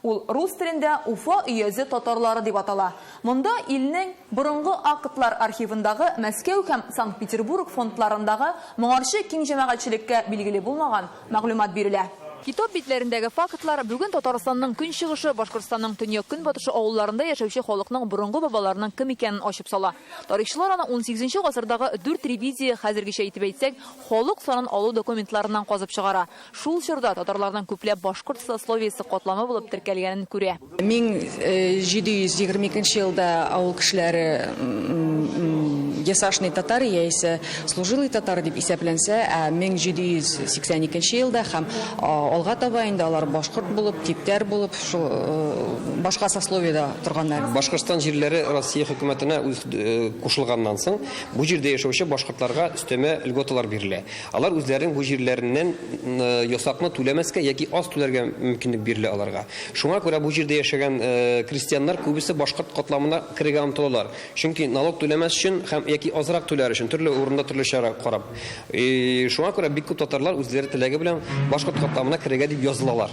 Ул рус телендә Уфа өязе татарлары дип атала. Монда илнең борынгы актлар архивындагы Мәскәү һәм Санкт-Петербург фондларындагы моңарчы киң җәмәгатьчелеккә билгеле булмаган мәгълүмат бирелә. Китап битләрендәге фактлар бүген Татарстанның көнчыгышы, Башкортстанның төньяк-көнбатышы авылларында яшәүче халыкның борынгы бабаларының кем икәнен ачып сала. Тарихчылар аны унсигезенче гасырдагы дүрт ревизия, хәзергечә итеп әйтсәк, халык санын алу документларыннан казып чыгара. Шул чорда татарларның күпләп башкорт сословиесе катламы булып теркәлгәнен күрә. 1722 елда авыл кешеләре ясашный татар яисә служилый татар дип исәпләнсә, ә 1782 елда һәм алга таба инде алар башкорт булып, типтәр булып, шул башка сословиедә торганнар. Башкортстан җирләре Россия хөкүмәтенә кушылганнан соң, бу җирдә яшәүче башкортларга өстәмә льготалар бирелә. Алар үзләренең бу җирләреннән ясакны түләмәскә яки аз түләргә мөмкинлек бирелә аларга. Шуңа күрә бу җирдә яшәгән крестьяннар күбесе башкорт катламына керергә омтылалар, чөнки налог түләмәс өчен һәм яки азрак түләр өчен төрле урында төрле чара карап. Шуңа күрә бик күп татарлар үзләре теләге белән башкорт катламына керергә дип язылалар.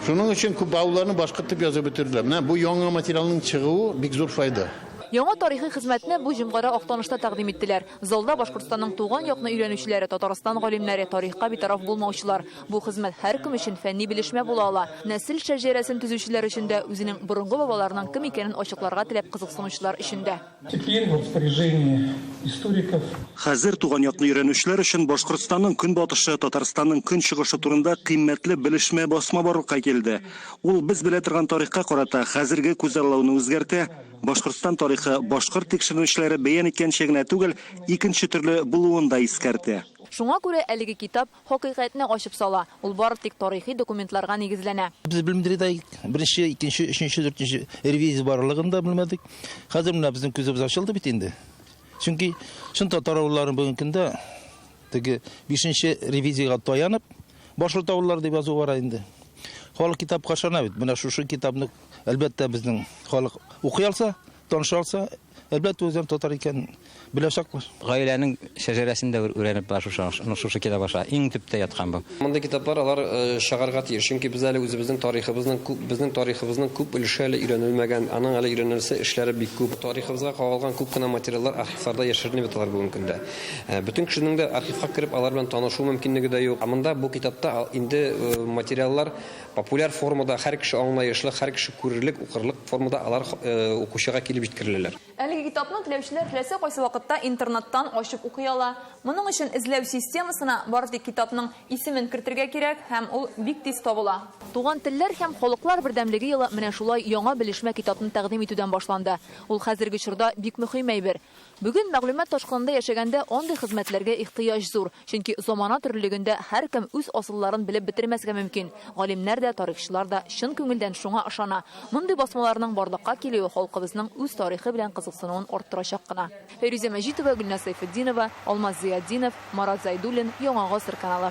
Шуның өчен күп авылларны башкорт дип язып бетерделәр. Менә бу яңа материалның чыгуы бик зур файда. Яңа тарихи хезмәтне бу җомгада Актанышта тәкъдим иттеләр. Залда Башкортстанның туган якны өйрәнүчеләре, Татарстан галимнәре, тарихка битараф булмаучылар. Бу хезмәт һәркем өчен фәнни белешмә була ала. Нәсел шәҗәрәсен төзүчеләр өчен дә, үзенең борынгы бабаларының кем икәнен ачыкларга теләп кызыксынучылар өчен дә. Теперь в распоряжении историков. Хәзер туган якны өйрәнүчеләр өчен Башкортстанның көнбатышы, Татарстанның көнчыгышы турында кыйммәтле белешмә басма барлыкка килде. Ул без белә торган тарихка карата хәзерге күзаллауны үзгәртә, Башкортстан тарихы, башкорт тикшеренүчеләре бәян иткәнчә генә түгел, икенче төрле булуын да искәртә. Шуңа күрә әлеге китап хакыйкатьне ачып сала, ул бары тик тарихи документларга нигезләнә. Без белмдри дә идек, беренче, икенче, өченче, дүртенче ревизия барлыгын да белмәдек. Хәзер менә безнең күзебез ачылды бит инде. Чөнки чын татар авылларын бүгенге көндә теге бишенче ревизиягә таянып, Башлы тавыллар дип язу бара инде. Халык китапка ышана бит. Менә шушы китапны әлбәттә безнең халык укый алса, таныша алса, әлбәттә үзем татар икән беләчәкләр. Гаиләнең шәҗәрәсен дә үрәнеп бар шушы шушы китап аша. Иң төптә яткан бу. Мондый китаплар алар э, чыгарга тиеш, чөнки без әле үзебезнең тарихыбызның күп безнең тарихыбызның күп өлеше әле өйрәнелмәгән, аның әле өйрәнелсе эшләре бик күп. Тарихыбызга кагылган күп кенә материаллар архивларда яшеренеп яталар бүгенге көндә. Ә, бөтен кешенең дә архивка кереп алар белән танышу мөмкинлеге дә юк. Ә монда бу китапта инде э, материаллар популяр формада, һәр кеше аңлаешлы, һәр кеше күрерлек, укырлык формада алар э, укучыга килеп җиткереләләр. Әлеге китапны теләүчеләр теләсә кайсы вакытта интернеттан ачып укый ала. Моның өчен эзләү системасына бары тик китапның исемен кертергә кирәк һәм ул бик тиз табыла. Туган телләр һәм халыклар бердәмлеге елы менә шулай яңа белешмә китапны тәкъдим итүдән башланды. Ул хәзерге чорда бик мөһим әйбер. Бүген мәгълүмат ташкынында яшәгәндә андый хезмәтләргә ихтыяҗ зур, чөнки замана төрлелегендә һәркем үз асылларын белеп бетермәскә мөмкин. Галимнәр дә, тарихчылар да чын күңелдән шуңа ышана. Мондый басмаларның барлыкка килүе халкыбызның үз тарихы белән кызыксынуын арттырачак кына. Фәйрүзә Мәҗитова, Гөлназ Сәйфетдинова, Алмаз Зыятдинов, Марат Зәйдуллин, Яңа гасыр каналы.